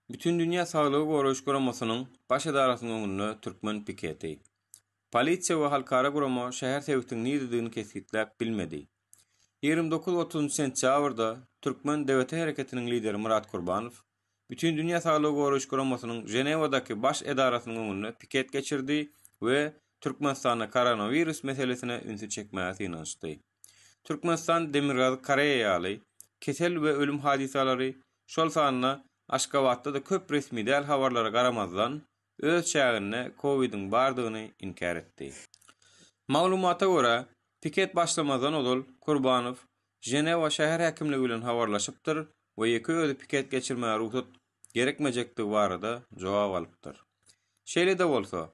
Bütindünýä Saglygy Goraýyş Guramasynyň Baş edarasynyň öňünde türkmen piketi. Polisiýa we halkara gurama şäher sebitiň niredigini kesgitläp bilmedi. Ýigrimi dokuz, otuzynjy sentýabrda türkmen DWT hereketiniň lideri Myrat Kurbanow Bütindünýä Saglygy Goraýyş Guramasynyň Ženewadaky Baş edarasynyň öňünde piket geçirdi we Türkmenistanda koronawirus meselesine ünsi çekmäge synanyşdy. Türkmenistan Demirgazyk Koreýa ýaly, kesel we ölüm hadysalary, şol sanda Aşgabatda-da köp resmi däl habarlara garamazdan, öz çäginde COVID-iň bardygyny inkär etdi. Maglumata görä, piket başlamazdan ozal Kurbanow Ženewa şäher häkimligi bilen habarlaşypdyr we ýeke özi piket geçirmäge rugsat gerekmejekdigi barada jogap alypdyr. Şeýle-de bolsa,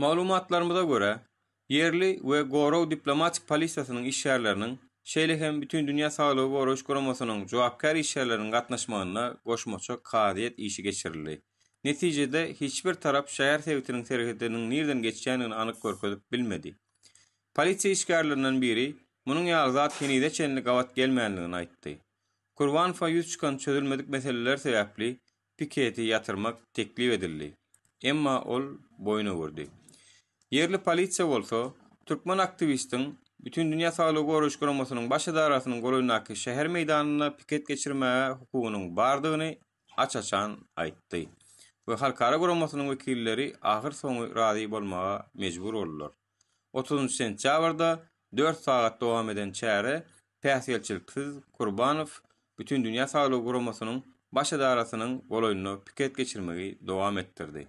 Maglumatlarymyza görä, ýerli we gorag diplomatik polisiýasynyň işgärleriniň, şeýle hem Bütindünýä saglygy goraýyş guramasynyň jogapkär işgärleriniň gatnaşmagynda goşmaça kazyýet işi geçirildi. Netijede, hiç bir tarap şäher sebitiniň serhediniň nireden geçýändigini anyk görkezip bilmedi. Polisiýa işgärlerinden biri munuň ýaly zat henize çenli gabat gelmändigini aýtdy. Kurbanowa ýüz çykan çözülmedik meseleler sebäpli piketi ýatyrmak teklip edildi, emma ol boýun öwürdi. Ýerli polisiýa bolsa, türkmen aktiwistiň Bütindünýä Saglygy Goraýyş Guramasynyň Baş edarasynyň golaýyndaky şäher meýdanynda piket geçirmäge hukugynyň bardygyny aç-açan aýtdy we halkara guramasynyň wekilleri ahyrsoňy razy bolmaga mejbur boldular. Otuzynjy sentýabrda dört sagat dowam eden çäre päsgelçiliksiz Kurbanow Bütindünýä saglygy guramasynyň Baş edarasynyň golaýynda piket geçirmegi dowam etdirdi.